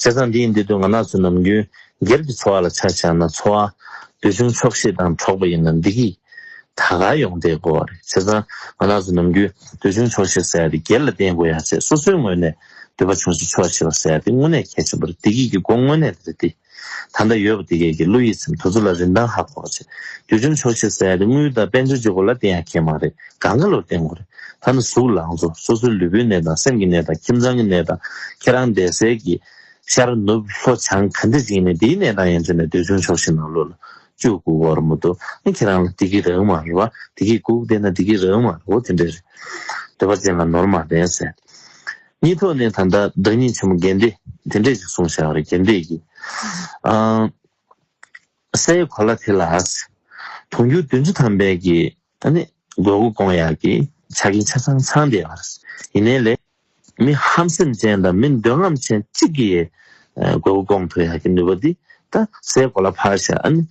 བྱས་ཙང་འདི་ཡིན་འདི་དུ་ང་ནག་ཚོས་ནམ་རྒྱུན་སྒེར་གྱི་འཚོ་བ་ལ་ཆ་བཞག་ན་འཚོ་བ་འདོད་ཆུང་ཆོག་ཤེས་དང་གྲོགས་པོ་ཡིན་ན་འདི་གིས་ད་ག་ཡོང་བསྡད་དགོས་བ་རེད་བྱས་ཙང་ང་ནག་ཚོས་ནམ་རྒྱུན་འདོད་ཆུང་ཆོག་ཤེས་ཟེར་ཡ་དེ་སྒེར་ལ་བརྟེན་དགོས་ཡ་བྱས་སོ་སོའི་ངོས་ནས་འདོད་པ་ཆུང་ཤེས་ཆོག་ཤེས་བ་ཟེར་ཡ་དེ་དངོས་གནས་གལ་ཆེན་པོ་རེད་བདེ་སྐྱིད་ཀྱི་སྒོ་དངོས་གནས་འདི་རེད་བདེ་ད་ལྟ་ཡོད་པ་དེ་གས་ཀྱི་གླུ་ཡིད་ཚིམ་དུ་ཚུར་ལ་རིན་ཐང་ཧ་གོ་ཆེ། དུས་ཆུང་ཆོག་ཤེས་གསལ་དེ་དངུལ་དང་དཔལ་འབྱོར་གྱི་སྐོར་ལ་བསྟེན་ཡ་ཁྱེད་མ་རེད་ག་འགའ་ལོར་བསྟེན་དགོས་རེད། ཐ་ན་གཟུགས་ལང་ཚོ་སོ་སོའི་ལུས་པོའི་ནད་དང་སེམས་ཀྱི་ནད་དང་ཁྱིམ་ཚང་གི་ནད་དང་ཁྱེད་རང་བསྡད་སའི་གི་ཤར་ནུབ་ལྷོ་བྱང་ག་འདྲི་ཅིག་ཡིན་ནའི་དེའི་ནད་དང་ཡན་ཆོད་ནས་དུས་ཆུང་ཆོག་ཤེས་ནང་ལོག་ལ་བཅུག་གུག་གོ་ར་མོ་འདུག་ཨ་ཁྱེད་རང་ལ་དེ་གི་རང་མ་རེད་བ་དེ་གི་གུག་བསྡད་ན་དེ་གི་རང་མ་རེད་བོ་དེ་འདྲས་རེད། འདོད་པ་ཅན་ལ་ནོར་མ་ལྡན་ཟེར། གཉིས་ཐོག་ནས་ད་ལྟ་བདག་ཉིད་ཆེན་མོ་རྒན་བདེ་དེ་འདྲས་ཞིག་གསུང་བཞག་རེད་རྒན་བདེ་ཀྱིས། སའི་གོ་ལ་དེ་ལ་དུང་རྒྱུ་བདུན་ཅུ་ཐམ་པའི་གི་ནི་དགོས་མཁོ་སྐོང་ཡག་གི་ཆ་རྐྱེན་ཆ་ཚང་ཚང་བསྡད་པ་རེད། ཡིན་ནའི་ལས་མི་ཧམ་སེམས་ཅན་དང་མི་འདོད་རྔམ་ཅན་གཅིག་གི་ཡའི་དགོས་མཁོ་སྐོང་ཐུབ་ཡག་གི་ནུས་པ་འདི་ད་སའི་གོ་ལ་ཕར་བཞག་ཨ་ནི་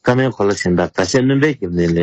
སྐར་མའི་གོ་ལ་གཞན་དག་ག་ཤེད་སྣོན་པའི་གི་ནི་ལས་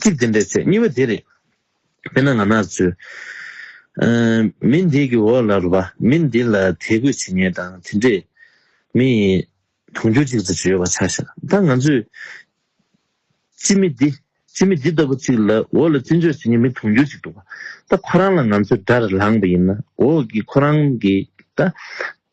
ཚིག་གཅིག་འཛིན་པའི་ཚེ་སྙིང་བོ་འདི་རེད། དཔེར་ན་ང་ནག་ཚོས། མི་འདི་གི་འོག་ལ་རུ་བ། མི་འདི་ལ་དད་གུས་བྱེད་ཉེན་དང་དེ་འདྲས། མི་ཡི་དུང་རྒྱུ་གཅིག་ཅེས་བརྗོད་པ་ཆགས་ཤག་ད་ང་ཚོས། སྤྱི་མི་འདི། སྤྱི་མི་འདི་ལྟ་བུ་ཅིག་ལ་འོག་ལ་བརྩི་འཇོག་བྱེད་ཉེན་མི་དུང་རྒྱུ་ཅིག་འདུག་པ། ད་ཁོ་རང་ལ་ང་ཚོས་དགྲར་ལངས་པ་ཡིན་ན་འོག་གི་ཁོ་རང་གིས་ད།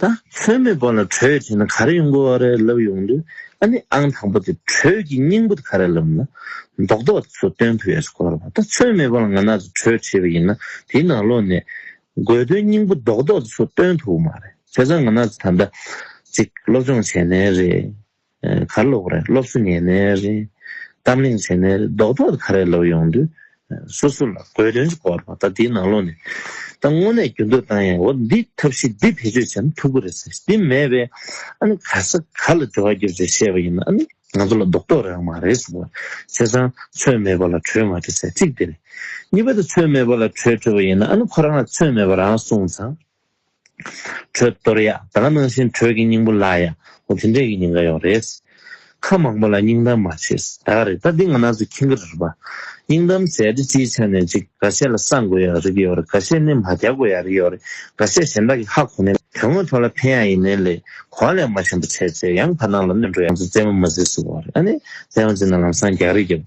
ད་ཚོད་མེད་པོ་ལ་གྲོས་བྱས་ན་ག་རེ་ཡོང་གི་འོ་རེ་ལབ་ཡོང་དུས་ཨ་ནི་ཨང་དང་པོ་དེ་གྲོས་ཀྱི་སྙིང་པོ་དེ་ག་རེ་ལབ་ན་མདོག་མདོག་དེ་ཚོ་སྟོན་ཐུབ་ཡོད་ས་གོ་རོགས་ད་ཚོད་མེད་པོ་ལ་ང་ན་ཚོད་གྲོས་བྱས་པ་ཡིན་ན་དེའི་ནང་ལོགས་ནས་དགོས་དོན་སྙིང་པོ་མདོག་མདོག་དེ་ཚོ་སྟོན་ཐུབ་མ་རེད་བྱས་ཙང་ང་ན་ཚོ་ད་ལྟ་ཅིག་སློབ་སྦྱོང་བྱས་ནས་རེད་གར་ལོག་རེད་སློབ་གསོ་ཉན་ནས་རེད། གཏམ་གླེང་བྱས་ནས་རེད་ལྡོག་ཕྱོགས་ག་རེ་ལབ་ཡོང་དུས། སོ་སོ་ལ་དགོས་དོན་གྱི་སྐོར་དང་ད་འདིའི་ནང་ལོག་ནས། ད་དངོས་གནས་རྒྱུ་འདོད་བཏང་ཡང་འོ་འདི་ཐབས་ཤེས་འདི་བེད་སྤྱོད་བྱས་ན་ཐུགས་ཁུར་རེད་ཟེར་ཞིང་འདི་མེད་པས། ཨ་ནི་ག་ས་ག་ལ་འབྲེལ་བ་རྒྱུ་རེད་བཤད་པ་ཡིན་ན་ཨ་ནི་ང་ཚོ་ལ་ལྡོག་ཕྱོགས་རང་མ་རེད་ཟེར་བ། བྱས་ཙང་ཚོད་མེད་པ་ལ་གྲོས་མ་བྲི་ཟེར་གཅིག་འདི་རེད། གཉིས་པ་དེ་ཚོད་མེད་པ་ལ་གྲོས་བྲི་བ་ཡིན་ན་ཨ་ནི་ཁོ་རང་ལ་ཚོད་མེད་པ་རང་གསུངས་ཙང། གྲོད་གཏོར་ཡ། ད་ག་ནང་བཞིན་གྲོད་ཀྱི་སྙིང་པོ་ལ་ཡ། ཧོ་དེ་འདྲས་ཀྱི་སྙིང་ག་ཡོག་རེད། ཁ་མང་པོ་ལ་སྙིང་གཏམ་མ་བྱེད། ད་ག་རེད་ད་འདི་ང་ན་ཚོ་ཁྱིང་གི་རེད་པ། སྙིང་གཏམ་བྱས་དེ་སྤྱིའི་ཆ་ནས་ཅིག་ག་བཤད་ལ་སང་དགོས་ཡ་རིག་གི་ཡོག་རེད་ག་བཤད་ནི་མ་རྒྱག་དགོས་ཡ་རིག་གི་ཡོག་རེད་ག་བཤད་གཞན་དག་གི་ཧ་གོ་ནི། དོན་དངོས་ཐོག་ལ་ཕན་ཡ་ཡིན་ནི་ལེ་གོ་ལེ་མ་ཆེན་པོ་བྱས་བྱས་ཡང་བར་སྣང་ལ་གནོད་འགྲོ་ཡ། ང་ཚོ་རྩེད་མོ་མ་བྱེད་ཟེར་བ་རེད་ཨ་ནི་རྩེད་མོ་བྱེད་ན་ལམ་སང་རྒྱག་རིག་གི།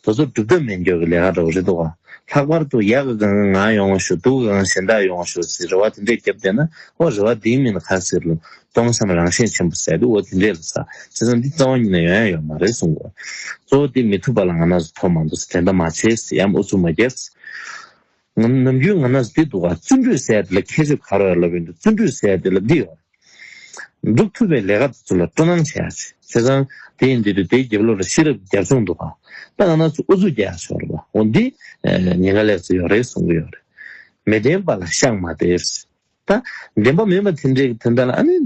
དེ་ཚོ་སྒྲུབ་ཐབས་མེད་འགྱོག་གི་ལས་ཀ་འདྲ་བོ་རེད་འདུག་ལྷག་པར་དུ་ཡག་གི་གང་ང་ཡོང་བ་ཞུ་སྡུག་གི་གང་གཞན་དག་ཡོང་བ་ཞུ་ཟེར་རེ་བ་དེ་འདྲས་བརྒྱབ་བསྡད་ན་ཨོ་རེ་བ་འདིའི་མིང་ལ་ག་ཟེར་རུང་སྟོང་བསམ་རང་ཤེས་ཆེན་པོ་ཟེར་དུས་ཨོ་དེ་འདྲས་ལ་ཟ་བྱས་ཙང་འདི་རྩ་བ་ཉིད་ནས་ཡོང་ཡ་ཡོད་མ་རེད་གསུང་དགོས་གཙོ་བོ་དེ་མི་ཐུབ་པ་ལ་ང་ནག་ཟུ་ཐོག་མ་འདུག་ཟེར་དེ་འདྲ་མ་བྱས་ཟེར་ཡའམ་ཨུ་ཚུགས་མ་རྒྱག་ཟེར། ནམ་རྒྱུན་ང་ནས་འདི་འདུག་ག་བརྩོན་འགྲུས་ཟེར་དེ་ལ་ཁྱད་ཆོས་ག་རེ་ཡོད་ལབ་ཡོང་དུས་བརྩོན་འགྲུས་ཟེར་དེ་ལ་འདི་ཡོད། འགྲུབ་ཐུབ་པའི་ལས་ཀ་དེ་ཚོ་ལ་སྤྲོ་སྣང་བྱེད་ཡག་ཆེ་ཙང། དེ་ཡིན་དུས་དུས་དེའི་རྒྱབ་ལོག་ལ་ཤེས་རབ་ཀྱི་རྒྱབ་ལྗོངས་འདུག་ག་དཔེ་ལ་ན་ཚོད་ཨུ་ཚུགས་རྒྱག་ཡག་ཆོག་རེད་པ་འོ་འདི་ཉེན་ཁ་ལེགས་ཚོད་ཡོད་རེད་གསུང་གི་ཡོད་རེད། མི་བདེན་པ་ལ་ཤག་མ་སྟེར། ད་བདེན་པ་མིན་པ་དེ་འདྲའི་དེ་འདྲ་ལ་ཨ་ནི།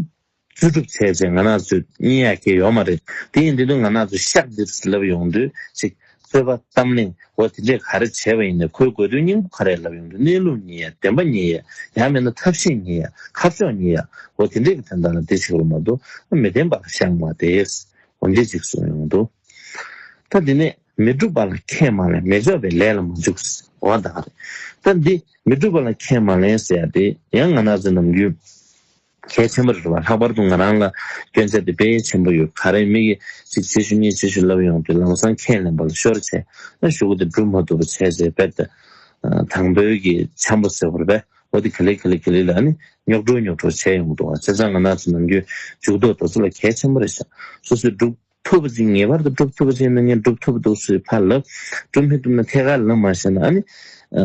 བཅུ་དྲུག་ཚེས་བཅས་ང་ནག་ཚོས་གཉིད་ཡག་གི་ཡོད་མ་རེད། དེ་ཡིན་དུས་ནི་ང་ནག་ཚོས་ཤག་འདིར་ལབ་ཡོང་དུས་ཤིག། གསོལ་བ། གཏམ་གླེང། འོ་དེ་འདྲས་ག་རེ་བྱས་པ་ཡིན་ནས་ཁོའི་དགོས་དོན་སྙིང་པོ་ག་རེ་ལབ་ཡོང་དུས་གནས་ལུགས་ཉིད་ཡ། བདེན་པ་ཉིད་ཡ། ཡང་མིན་ན་ཐབས་ཤེས་ཉིད་ཡ། ཁ་ཕྱོགས་ཉིད་ཡ། འོ་དེ་འདྲས་ཀྱི་དོན་དག་ལ་འདི་ཞིག་རུ་མ་འདུག་ཨ། མི་བདེན་པ་ལ་ཤག་མ་བདེས། འོ་འདི་ཅིག་གསུངས་ཡོང་དུས། ད་འདི་ནས་མི་སྒྲུབ་པ་ལ་ཁས་མ་ལེན་མི་འཇོག་པའི་ལས་ལ་མ་འཇུག། འོ་ད་རེད། ད་འདི་མི་སྒྲུབ་པ་ལ་ཁས་མ་ལེན་ཟེར་ཡ་དེ་ཡང་ང་ནག་ཚོའི་ནམ་རྒྱུན། གལ་ཆེན་པོ་རེད་བ་ལྷག་པར་དུ་ང་རང་ལ་སྐྱོན་ཆ་དེ་དཔེ་ཆེན་པོ་ཡོད་ག་རེ་མི་གི་གཅིག་རྗེས་ཤུལ་གཉིས་རྗེས་ཤུལ་ལབ་ཡོང་དུས་ལམ་སང་ཁས་ལེན་པ་ལ་ཤོར་ཆེ་ན་ཞུ་གུ་དེ་འགྲུབ་མ་ཐུབ་པ་བྱས་རྗེས་དཔེར་ད་དང་བོད་གི་འཆམ་པོ་ཟེར་བར་བས་བོ་དེ་ག་ལེ་ག་ལེ་ག་ལེ་ལ་ནི་ཉོག་གྲོ་ཉོག་གྲོ་བྱས་ཡོང་གི་འདུག་བ་བྱས་ཙང་ང་ནག་ཆུ་ནང་རྒྱུན་འཇུག་ཐོག་དོ་ཚོ་ལ་གལ་ཆེན་པོ་རེད་བཞག་སོ་སོས་སྒྲུབ། ཐུབ་པ་ཅིག་ངེས་པར་དུ་སྒྲུབ་ཐུབ་པ་ཅིག་ཡིན་ན་ངས་སྒྲུབ་ཐུབ་འདུག་ཟེར་བའི་ཕར་ལབ། སྒྲུབ་མི་ཐུབ་ན་ཐད་ཀར་ལབ་མ་ཤེས་ན་ཨ་ནི།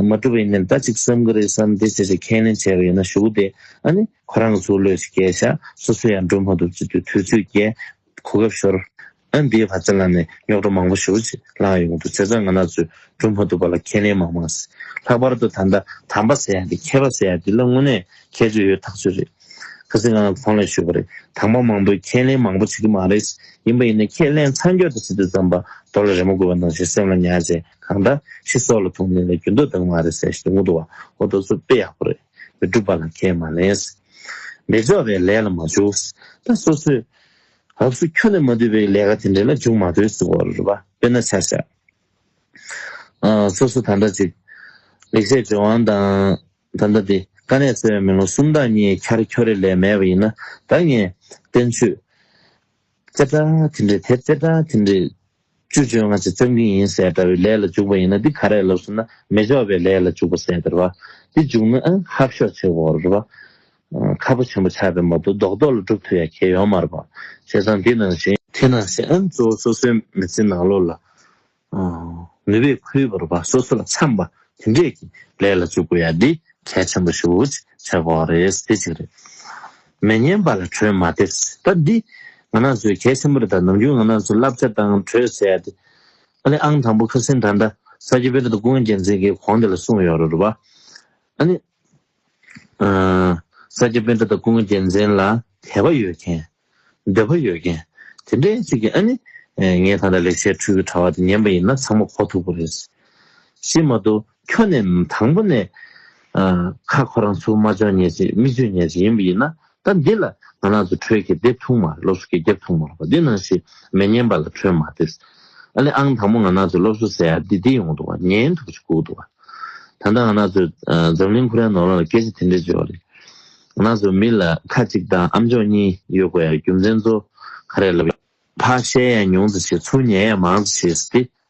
མ་སྒྲུབ་པ་ཡིན་ནའི་ད་ཅིག་བསམ་གི་རེད་བསམ་སྟེ་ཅི་ཞིག་ཁས་ལེན་བྱས་པ་ཡིན་ན་ཞུགས་ཏེ་ཨ་ནི། ཁོ་རང་གི་ཚུགས་བློས་ཅིག་བསྐྱལ་བཞག་སོ་སོས་ཡང་སྒྲུབ་མ་ཐུབ་ཅིག་དུས་ཚོད་བསྐྱལ། གོ་སྐབས་ཤོར། ཨ་འདིའི་བར་ཚེ་ལ་ནས་རྙོག་གྲ་མང་པོ་ཞུགས་ཅིག་ལངས་ཡོང་དུས་ཚེ་ཚང་ང་ནག་ཚོས་སྒྲུབ་མ་ཐུབ་པ་ལ་ཁས་ལེན་མང་མང་ཟེར། ལྷག་པར་དུ་ད་ལྟ་དམ་པ་ཟེར་ཡ་དེ་མཁས་པ་ཟེར་ཡ་དེ་ལ་དངོས་གནས་ཁྱད་ཆོས་ཡོད་ཐག་ཆོད་རེད། ཁ་སིང་ངང་ཚང་ལས་ཞུས་པ་རེད་དྭངས་མ་མང་པོས་ཁས་ལེན་མང་པོ་བྱེད་ཀྱི་མ་རེད། ཡིན་པ་ཡིན་ན་ཁས་ལེན་ཚང་མགྱོགས་དེ་ཚིག་དེ་བརྩམས་པ་རྡོ་ལ་རེ་མོ་དགོས་པ་ནང་བཞིན་སེམས་ལ་ཉར་བྱས་གང་ལྟ་ཤི་སྲོག་ལ་ཐུག་ནས་ལས་རྒྱུ་འདོགས་སྡང་མ་རེད་ཟེར་ཞིང་ངུ་འདུག་བ་ཧོ་རྡོ་གཟུགས་དཔེ་ཡག་པོ་རེད་མི་སྒྲུབ་པ་ལ་ཁས་མ་ལེན། མི་འཇོག་པའི་ལས་ལ་མ་འཇུག། ད་སོ་སོས། ཧབ་སུ་ཁྱོ་ནས་མ་བསྡུས་པའི་ལས་ཀ་དེ་འདྲེ་ལ་འཇུག་མ་འདོད་ཟིག་བོ་རེད་པ་དཔེ་ན་ཆ་ཤ། སོ་སོ་ད་ལྟ་ཅིག། ལེགས་བཤད་ལྗོན་དབང་དང། ད་ལྟ་འདི། ཀ་ནས་གསལ་བའི་མེ་ལོང་གསུམ་བདག་ཉིད་འཁྱར་འཁྱོར་རེ་ལས་མེད་པ་ཡིན་ན་བདག་ངས། བསྟན་བཅོས། ཅེ་སྒྲ་དེ་འདྲས་དེ་ཅེ་སྒྲ་དེ་འདྲས། བཅུ་བཅོ་ལྔ་ཅེ་བཅོམ་གྱིན་ཡིན་ཟེར་འདྲ་བའི་ལས་ལ་འཇུག་པ་ཡིན་ན་འདི་ག་རེ་ལབ་ཟེར་ན་མེ་འཇོག་པའི་ལས་ལ་འཇུག་པ་ཟེར་འདྲ་བ། འདི་འཇུག་ན་ཧབ་ཤོག་བྱེད་བོར་བ། ཁ་ཕོ་ཆེན་པོ་ཆགས་པའི་མ་བུ་རྡོག་རྡོག་ལ་སྒྲུབ་ཐུབ་ཡ་གྱལ་ཡོང་མར་པ་བྱས་ཙང་འདི་ནང་བཞིན། དེ་ནང་བཞིན་ཨམ་གཙོ་བོ་སོ་སོའི་མི་ཚེ་ནང་ལོག་ལ། ནུས་པས་ཁུར་བོར་བ་སོ་སོ་ལ་འཚམས་པ་དེ་འདྲས་ཀྱི་ལས་ལ་འཇུག་དགོས་ཡ་འདི་གལ་ཆེན་པོ་ཞིག་འུ་ཅིག་བྱེད་དགོས་རེད་དེ་གཅིག་རེད། མི་ཉན་པ་ལ་གྲོས་མ་འདེབས་སྲིད་ད་འདི་ང་ནང་ཚོས་གལ་ཆེན་པོ་རེད་ད་ནམ་རྒྱུན་ང་ནང་ཚོས་བསླབ་བྱ་དང་གྲོས་བྱེད་ཡ་དེ། ཨ་ལེ་ཨང་དང་པོ་ཁ་སིན་ད་ད་ས་སྐྱ་པེ་རི་དང་ཀུན་རྒྱལ་མཚན་གྱི་གོང་དེ་ལ་གསུངས་ཡོད་རེད་བ། ཨ་ནི། ས་སྐྱ་དཔོན་དྲ་དང་སྐུ་ངོ་རྒྱལ་མཚན་ལ་དད་པ་ཡོད་མཁན། འདོད་པ་ཡོད་མཁན། དེ་འདྲའི་ཚིག་གིས་ཨ་ནི། ངས་ད་ལྟ་ལེགས་བཤད་འཕྲུལ་གྱི་དྲ་བ་དེ་ཉན་པ་ཡིན་ན་ཚང་མ་གོ་ཐུབ་པོ་རེད། ཞེས་མ་གཏོགས་ཁྱོད་ནས་དང་པོ་ནས། ཁ་ཁོ་རང་ཚུར་མ་འཇོག་ཉེས་ཅེས་མིག་ཆུ་ཉར་བྱེད་ཡིན་པ་ཡིན་ན་ད་འདི་ལ་ང་ནག་ཚོ་ཁྲོད་ཀྱི་དེབ་ཐུང་མ་རེད་སློབ་གསོ་སྐད་རྒྱབ་ཐུང་མ་རེད་པ་འདི་ནང་བཞིན་མི་ཉན་པ་ལ་ཁྲོད་མ་དེས་ཨ་ལེ་ཨང་དང་པོ་ང་ནག་ཚོས་སློབ་གསོ་ཟེར་ཡག་འདི་འདི་ཡོང་འདུག་བ་ཉན་ཐུབ་ཅིག་ལྐུག་འདུག་བ་ད་ལྟ་ང་ནག་ཚོས་འཛམ་གླིང་ཁུ་རན་ནོར་ལང་ལ་སྐད་ཆ་དེ་འདྲས་བརྗོད་བ་རེད་ང་ནག་ཚོས་མི་ལ་ཁ་གཅིག་དང་ཨ་མཆོག་གཉིས་ཡོད་དགོས་ཡ་རྒྱུ་མཚན་ཚོ་ག་རེ་ལབ་ཡ། ཕ་བཤད་ཡ་ཉུང་ཙི་བྱེད་ཚུར་ཉལ་ཡ་མང་ཙི་བྱེད་ཟེར་དེ་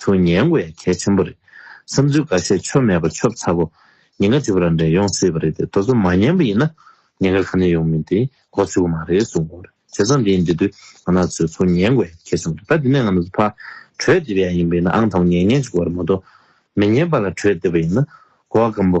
ཁྱོད་ཉན་དགོས་ཡ་གལ་ཆེན་པོ་རེད། བསམ་ཚུལ་འགའ་ཤས་ཆོ་མེད་པ་ཆོབ་ཚ་གོ། ཉེན་ཁ་ཇི་བོ་རང་འདྲས་ཡོང་སྲིད་པ་རེད་དེ་དོ་ཚོ་མ་ཉན་པ་ཡིན་ན། ཉེན་ཁ་ག་ནས་ཡོང་མིན་དེ་གོ་ཚུད་གོ་མ་རེད་གསུང་གོ། བྱས་ཙང་དེ་ཡིན་དེ་དུས་ང་ནག་ཚོས་ཚོ་ཉན་དགོས་ཡ་གལ་ཆེན་པོ་རེད་ད་དེ་ནས་ང་ནག་ཚོ་ཕར་གྲོས་འདེབས་ཡ་ཡིན་པ་ཡིན་ན་ཨང་དང་པོ་ཉན་ཉན་གཅིག་གོ་རེད་མ་གཏོགས། མི་ཉན་པ་ལ་གྲོས་འདེབས་པ་ཡིན་ན་གོ་ག་གམ་པོ།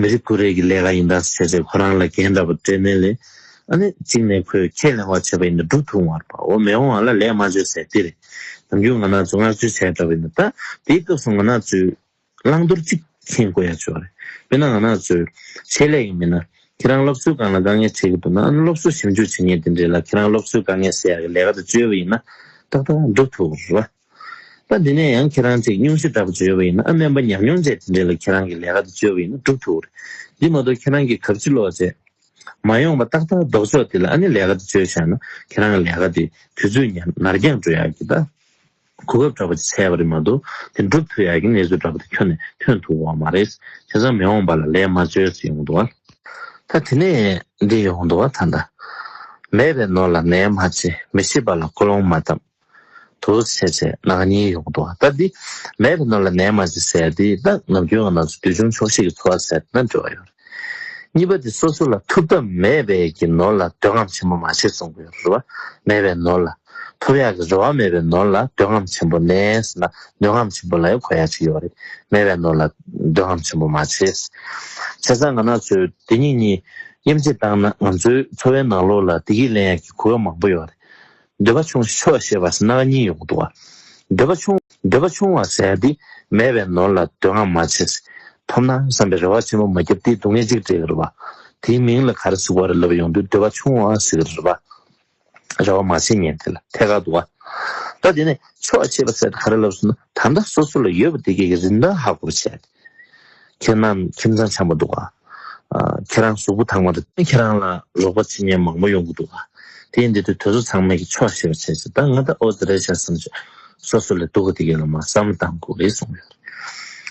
མི་རིགས་ཀུན་རེ་གི་ལས་ཀ་ཡིན་དཱ་ཟེར་ཚེ་ཁོ་རང་ལ་འགན་འདྲ་པོ་སྤྲད་མོད་ལས་ཨ་ནི་གཅིག་ནས་ཁོས་ཁས་ལེན་བར་བྱས་པ་ཡིན་དཱ་འབྲུག་ཐུག་མར་པའོ་མེ་འོང་བ་ལ་ལས་མ་བྱོས་ཟེར་འདི་རེད་དཱ་རྒྱུ་ང་ནག་ཆུ་མངགས་བཅོལ་བྱས་འདྲ་པོ་ཡིན་དཱ་དེའི་སྐབས་སུ་ང་ནག་ཆུའི་བླང་དོར་གཅིག་མཁྱེན་དགོས་ཡ་བྱོས་བ་རེད་དཔེར་ན་ང་ནག་ཆུའི་ཆེད་ལས་ཡིན་མིན་ན་ཁྱེད་རང་སློབ་གསོའི་སྒང་ལ་དཀའ་ངལ་འཕྲད་གི་འདུག་ན་ཨ་ནི་སློབ་གསོ་ཞིབ་འཇུག་བྱེད་མཁན་དེ་འདྲས་ལ་ཁྱེད་རང་སློབ་གསོའི་དཀའ་ངལ་སེལ་ཡ་གི་ལས་ཀ་དེ་བཅོལ་བ་ཡིན་ན་ཏག་ཏག་འབྲུག་ཐུག་རེད་བ། ད་འདི་ནས་ཡང་ཁྱེད་རང་ཚིག་ཉུང་ཤོས་འདྲ་པོ་བརྗོད་པ་ཡིན་ན་ཨ་སྨན་པ་ཉམས་མྱོང་ཅན་དེ་འདྲས་ལ་ཁྱེད་རང་གི་ལས་ཀ་དེ་བཅོལ་བ་ཡིན་ན་འགྲུབ་ཐུག་གི་རེད། འདི་མ་གཏོགས་ཁྱེད་རང་གིས་གབ་ཕྱི་ལོག་བྱས། མ་ཡོང་པ་ཏག་ཏག་ལྡོག་ཆོག་དེ་ལ་ཨ་ནི་ལས་ཀ་དེ་བཅོལ་བཞག་ན་ཁྱེད་རང་གི་ལས་ཀ་དེ་དུས་ཚོད་ཉར་ནར་འགྱངས་འགྲོ་ཡག་གི་ད་གོ་སྐབས་འདྲ་པོ་ཅིག་འཚལ་བ་རེད་མ་གཏོགས་དེ་འགྲུབ་ཐུག་ཡག་གི་གནས་ཚུལ་འདྲ་པོ་དེ་ཁྱོན་ནས་ཐོན་ཐུག་འོང་བ་རེད། དེ་ཚང་མི་འོང་པ་ལ་ལས་མ་བཅོལ་ཚེ་ཡོང་འདུག་བ། ད་དེ་ནས་འདི་ཡོང་འདུག་བ་ད་ད། མེད་པའི་ནོར་ལ་ནན་མ་བྱེད་མི་ཤེས་པ་ལ་ཀོ་ལོང་མ་བཏབ། དུ་བྱས་བྱས་ནག་ཉེས་ཡོང་དུ་བ་ལྟ་འདི་མེད་པའི་ནོར་ལ་ནད་མ་ཞིག་ཟེར་དེ་ལྟ་ནམ་རྒྱུན་ང་ནང་ཚོ་དུས་ཆུང་ཆོག་ཤེས་ཀྱི་འཚོ་བ་ཟེར་ན་འགྲོ་བ་ཡོད་རེད། གཉིས་པ་དེ་སོ་སོ་ལ་ཐུབ་ཐབས་མེད་པས་ཀྱི་ནོར་ལ་འདོད་རྔམ་ཆེན་པོ་མ་བྱེད་གསུང་གི་རེ་བ་མེད་པའི་ནོར་ལ། ཐུབ་ཡག་གི་རེ་བ་མེད་པའི་ནོར་ལ་འདོད་རྔམ་ཆེན་པོ་ནས་ཟེར་ན་འདོད་རྔམ་ཆེན་པོ་ལ་ཡང་གོ་ཡག་ཅིག་ཡོད་རེད་མེད་པའི་ནོར་ལ་འདོད་རྔམ་ཆེན་པོ་མ་བྱེད། བྱས་ཙང་ང་ནང་ཚོས་དེ་གཉིས་གཉིས་དབྱེ་འབྱེད་བཏང་ན་ང་ཚོའི་འཚོ་བའི་ནང་ལོགས་ལ་དེ་གིས་ལན་ཡག་གི་གོ་སྐབས་མང་པོ་ཡོད་རེད། འདོད་པ་ཆུང་ཤོས་ཞེས་པ་སྣང་གཉིས་ཡོང་འདུག་བ། འདོད་པ་ཆུང། འདོད་པ་ཆུང་བ་ཟེར་ཏེ་མེད་པའི་ནོར་ལ་འདོད་བསྔགས་མ་བྱེད། ཐོབ་ན་བསམ་པའི་རེ་བ་ཆེན་པོ་མ་བརྒྱབ་སྟེ་སྡུག་བསྔལ་གཅིག་སྤྲད་གི་རེད་བ། དེའི་མིང་ལ་ག་རེ་ཟུག་བ་རེ་ལབ་ཡོང་དུས་འདོད་པ་ཆུང་བ་ཟེར་གི་རེད་བ། རེ་བ་མ་བྱེད་ཉན་དེ་ལ་ཐད་ཀར་འདུག་བ། ད་དེ་ནས་ཆོག་ཅེས་པ་ཟེར་ཏེ་ག་རེ་ལབ་ཟེར་ན་ད་ལྟ་སོ་སོ་ལ་ཡོད་པ་དེ་གས་ཀྱི་རིན་ཐང་ཧ་གོ་བ་བྱས་ཏེ་ཁྱེད་རྣམས་ཁྱིམ་ཚང་ཆགས་མ་འདུག་ཨ། ཁྱེད་རང་གཟུགས་པོ་དག་མ་རེད། ཁྱེད་རང་ལ་རོགས་པ་བྱེད་མཁན་མང་པོ་ཡོང་གི་འདུག་ཨ། དེ་འདི་དུས་དོལ་ཚོ་ཚང་མས་ཀྱི་ཆོག་ཤེས་པ་བྱས་ཟེར་ད་ང་ད་ཨོ་ཙི་རལ་ཤ་སམ་ཅི་སོ་སོ་ལས་སྡུག་གི་འདི་གས་ལ་མ་བསམ་ལ་དང་གོ་གི་གསུངས་ཡོད་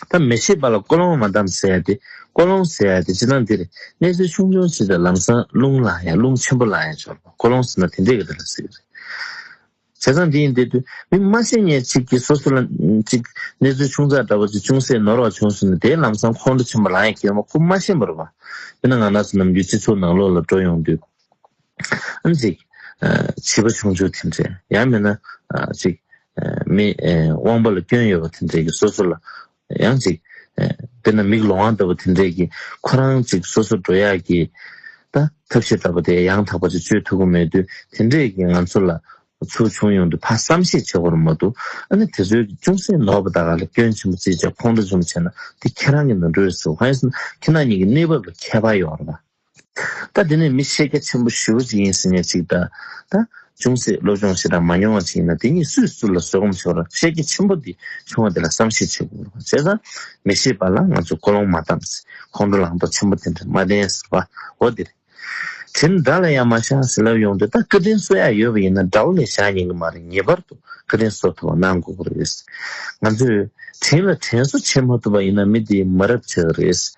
རེད། ད་མི་ཤེས་པ་ལ་ཀོ་ལོང་མ་བདམས་ཟེར་ཡ་དེ་ཀོ་ལོང་ཟེར་ཡ་དེ་ཅི་ལང་འདི་རེད་གནས་ཚུལ་ཆུང་ཆུང་ཞིག་དེ་ལམ་སང་རླུང་ལང་ཡ་རླུང་ཆེན་པོ་ལང་ཡ་ཆོག་ལ་ཀོ་ལོང་ཟེར་ན་དེ་འདྲས་གི་རེད་ལ་ཟེར་གི་རེད། བྱས་ཙང་འདི་ཡིན་འདི་དུས་མི་སྨྲ་སེམས་ཉེས་ཅིག་གིས་སོ་སོ་ལ། གཅིག། གནས་ཚུལ་ཆུང་ཙག་འདྲ་བ་ཅིག་ཅུང་ཟད་ནོར་བ་བྱུང་ཟིན་ན་དེའི་ལམ་སང་ཁོང་ཁྲོ་ཆེན་པོ་རང་ཡང་སྐྱེ་མོ་ཁུ་མ་ཤེས་པར་བ། དེ་ན་ང་ནགས་ཚལ་ནམ་རྒྱུན་སྤྱི་ཚོགས་ནང་ལོགས་ལ་འགྲོ་ཡོང་དུས། གཅིག། བྱིས་པ་ཆུང་ཆུང་དེ་འདྲས་ཡང་མིན་ན། གཅིག། མི། དབང་པོ་ལ་སྐྱོན་ཡོད་པ་དེ་འདྲས་ཀྱིས་སོ་སོ་ལ། ཡང་གཅིག། དཔེར་ན་མིག་ལོང་བ་ལྟ་བུ་དེ་འདྲས་ཀྱིས་ཁོ་རང་ཅིག་སོ་སོར་འགྲོ་ཡག་གི། ད་ཐབས་ཤེས་ལྟ་བུ་དེ་ཡང་དག་པ་ཅིག་སྤྱོད་ཐུབ་ཀྱི་མེད་དུས་དེ་འདྲས་ཀྱིས་ང་ཚོ་ལ། ཚུར་བྱུང་ཡོང་དུས་ཕ་བསམ་ཤེས་བྱེད་ཁོ་རང་མ་འདུག་ཨ་ནི་དེ་ཚོའི་གི་ཅུང་ཟད་ནོར་བ་དག་ག་ལ་སྐྱོན་ཆེན་པོ་བརྩིས་བྱས་ཁོང་ཁྲོ་ཅུང་བྱས་ན་དེ་ཁྱེད་རང་གི་ནོར་འཁྲུལ་རེད་ཟེར་བ་ཧོན་སི་ན་ཁྱེད་རང་གཉིས་ཀྱི་གནས་བབ་ལ་ཁྱད་པར་ཡོད་རེད་པ། ད་འདི་ནས་མི་ཤེས་རྒྱ་ཆེན་པོ་ཞི་བ་ཅིག་ཡིན་ཟེར་ནས་ཅིག་ད་ད་ཅུང་ཟད་བློ་སྦྱོང་བྱེད་དང་མ་མྱོང་བ་ཅིག་ཡིན་ན་དེ་གཉིས་སུས་སུ་ལ་བཟོད་སྒོམ་བྱེད་པར་ཤེས་རྒྱ་ཆེན་པོ་འདི་བྱུང་བ་དེ་ལ་བསམ་ཤེས་བྱེད་དགོས་བྱས་ཙང་མི་ཤེས་པ་ལ་ང་ཚོས་ཀོ་ལོང་མ་བཏང་ཟེར་ཁོང་ཁྲོ་ལངས་དོགས་ཆེན་པོ་དེ་འདྲ་མ་བསྟན་ཟེར་བ་འོ་དེ་རེད་དེ་འདྲ་ལ་ཡང་མ་བཞག་ཟེར་ལབ་ཡོང་དུས་ད་སྐུ་རྟེན་གསོ་ཡག་ཡོད་པ་ཡིན་ན་དགྲ་བོ་ལས་བཞག་ཉན་གི་མ་རེད་ངེས་པར་དུ་སྐུ་རྟེན་གསོ་ཐུབ་པ་གནང་དགོས་པ་རེད་ང་ཚོས་དྲིན་ལ་དྲན་གསོ་བྱེད་མ་ཐུབ་པ་ཡིན་ན་མི་འདི་མ་རབས་ཆགས་རེད།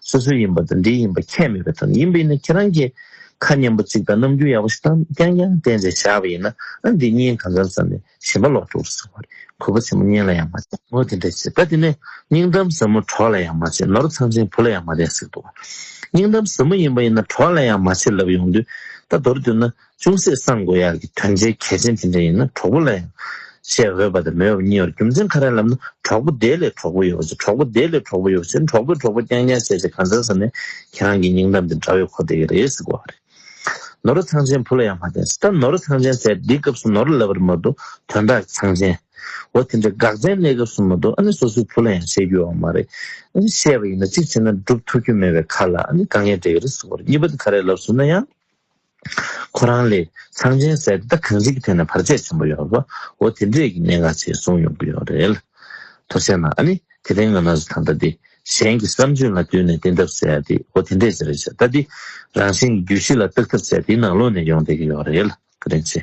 སོ་སོའི་ཡིན་པ་དང་འདིའི་ཡིན་པ་ཁྱད་མེད་པའི་ཐོག་ནས་ཡིན་པ་ཡིན་ན་ཁྱེད་རང་གིས་ཁ་སྙན་པོ་གཅིག་དང་རྣམ་འགྱུར་ཡག་པོ་ཞིག་དང་རྐྱང་རྐྱང་བསྟན་རྗེས་བཞག་པ་ཡིན་ན་ཨ་འདི་སྙན་གང་འཚམས་ཟེར་ནས་ཞེན་པ་ལོག་འགྲོ་རུ་ཟེར་བ་རེད་གུས་པ་ཆེན་པོ་སྙན་ལ་ཡང་མ་བྱེད་ངོ་དེ་འདྲ་བྱེད་ད་དེ་ནས་སྙིང་གཏམ་ཟབ་མོ་གྲོགས་ལ་ཡང་མ་བྱེད་ནོར་ཚང་ཆེན་བུ་ལ་ཡང་མ་བསྟན་ཟེར་འདུག་སྙིང་གཏམ་ཟབ་མོ་ཡིན་པ་ཡིན་ན་གྲོགས་ལ་ཡང་མ་བྱེད་ལབ་ཡོང་དུས་ད་མདོར་བསྡུས་ན་ཅུང་ཟད་བསམ་དགོས་ཡག་གི་དོན་ཆེན་གལ་ཆེན་དེ་འདྲ་ཡིན་ན་གྲོགས་པོ་ལ་ཡང་བཤད་འོས་པ་དང་མེད་པ་གཉིས་བར་རྒྱུ་མཚན་ག་རེ་ལབ་ན་གྲོགས་པོ་དེའི་ལས་གྲོགས་པོ་ཡོད་པ་བྱེད་གྲོགས་པོ་དེའི་ལས་གྲོགས་པོ་ཡོད་པ་བྱེད་གྲོགས་པོས་གྲོགས་པོ་རྐྱང་རྐྱང་བྱས་བྱས་གང་བྱ་ཟེར་ནས་ཁྱེད་རང་གི་སྙིང་གཏམ་དེ་འདྲ་བའི་གོ་བདེ་གི་རེད་ཟེར་དགོས་བ་རེད། ནོར་ར་ཚང་ཆེན་བུ་ལ་ཡང་མ་བསྟན་ཟེར་ད་ནོར་ར་ཚང་ཆེན་ཟེར་འདིའི་སྐབས་སུ་ནོར་ར་ལབ་པར་མ་འདུག་དོན་དག་ཚང་ཆེན། འོ་དེ་འདྲའི་འགག་ཅན་གནས་སྐབས་སུ་མ་འདུག་ཨ་ནི་སོ་སོའི་བུ་ལ་ཡང་བཤད་རྒྱུ་ཡོད་བ་མ་རེད། ཨ་ནི་བཤད་པ་ཡིན་ན་གཅིག་བྱས་ན་སྒྲུབ་ཐུབ་རྒྱུ་མེད་པའི་ཁར་ལ་ཨ་ནི་དཀའ་ངལ་འདྲེ་གི་རེད་ཟེར་དགོས་རེད་གཉིས་པ་དེ་ག་རེ་ལབ་ཟུར་ན་ཡང། ཁོ་རང་ལས་ཚངས་ཆེན་གསལ་བདག་གངས་རི་གི་ཐད་ནས་བར་ཆད་ཆེན་པོ་ཡོད་པ་འོ་དེ་འདྲས་ཀྱི་གནད་འགག་ཆེ་གསུངས་ཡོང་གི་ཡོད་རེད་ལ། ཐུགས་ཆེ་ན་ཨ་ནི་དེ་རིང་ང་ན་ཟུག་ཐང་ལྟ་དེ་གཞན་གྱི་བསམ་ཚུལ་ལ་བསྟུན་ནས་བསྟེན་ཐབས་བྱས་ཏེ་འོ་དེ་འདྲས་ཅི་རེད་ཞེས་ལྟ་དེ་རང་བཞིན་གྱི་རྒྱུད་བཞི་ལ་བརྟག་ཐབས་བྱས་དེ་ནང་ལོག་ནས་ཡོང་བསྡད་ཀྱི་ཡོད་རེད་ལ་ཀི་རིང་ཆེ།